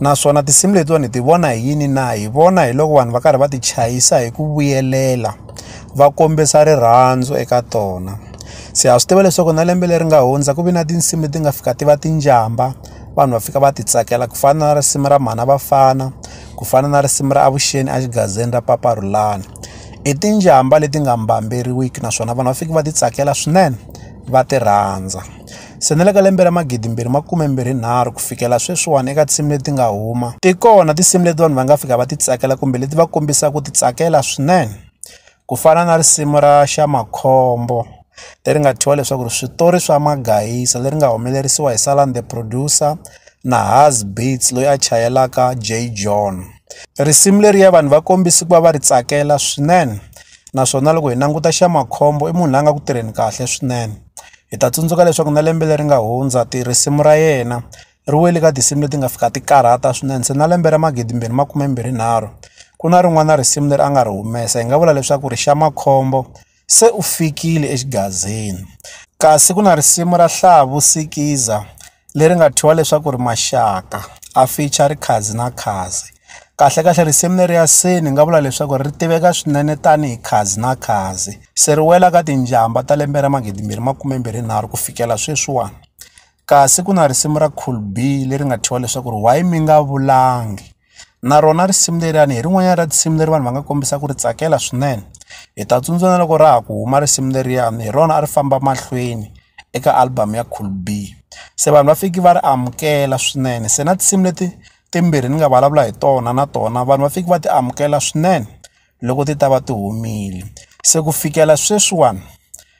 naswona tinsimu letiwani hi ti vona hi yini na hi vona hi loko vanhu va karhi va ti chayisa hi ku vuyelela va kombisa rirhandzu eka tona se ha swi tiva leswaku na lembe leri nga hundza ku vi na tinsimu leti nga fika ti va tinjamba vanhu va fika va ti tsakela ku fana na risimu ra mhana vafana ku fana na risimu ra avuxeni exigazini ra papa rulani i tinjamba leti nga mbamberiwiki naswona vanhu va fike va ti tsakela swinene va ti rhandza Se na le ka lembe ra magidi mbirhi makume mbirhi nharhu ku fikela sweswiwani eka tinsimu leti nga huma ti kona tinsimu leti vanhu va nga fika va ti tsakela kumbe leti va kombisa ku ti tsakela swinene ku fana na risimu ra xa makhombo leri nga thyiwa leswaku ri switori swa magayisa leri nga humelerisiwa hi Salam the producer na Haas beats loyi a chayelaka Jay John risimu leriya vanhu va kombisa ku va va ri tsakela swinene. naswona loko hi languta xa makhombo i munhu la nga ku tirheni kahle swinene hi ta tsundzuka leswaku na lembe leri nga hundza ti risimu ra yena ri wele ka tinsimu leti nga fika ti karhata swinene se na lembe ra magidimbirhi makumembirhi nharhu ku na rin'wana risimu leri a nga ri humesa hi nga vula leswaku ri xa makhombo se u fikile exigazini kasi ku na risimu ra hlavu sikiza leri nga thyiwa leswaku ri maxaka a ficha ri khazi na khazi kahle kahle risimu leri ya se ni nga vula leswaku ri tiveka swinene tanihi khazi na khazi se ri wela ka tinjhamba ta lembe ra magidi mbirhi makume mbirhi nharhu ku fikela sweswiwani kasi ku na risimu ra cool b leri nga thyiwa leswaku ri why mi nga vulangi. na rona risimu leriwani hi rin'wanyana ra tinsimu leri vanhu va nga kombisa ku ri tsakela swinene hi ta tsundzuka na loko ra ha ku huma risimu leriyani hi rona a ri famba mahlweni eka album ya cool b se vanhu va fiki va ri amukela swinene se na tinsimu leti timbirhi ni nga vulavula hi tona na tona vanhu va fiki va ti amukela swinene loko ti ta va ti humile se ku fikela sweswiwani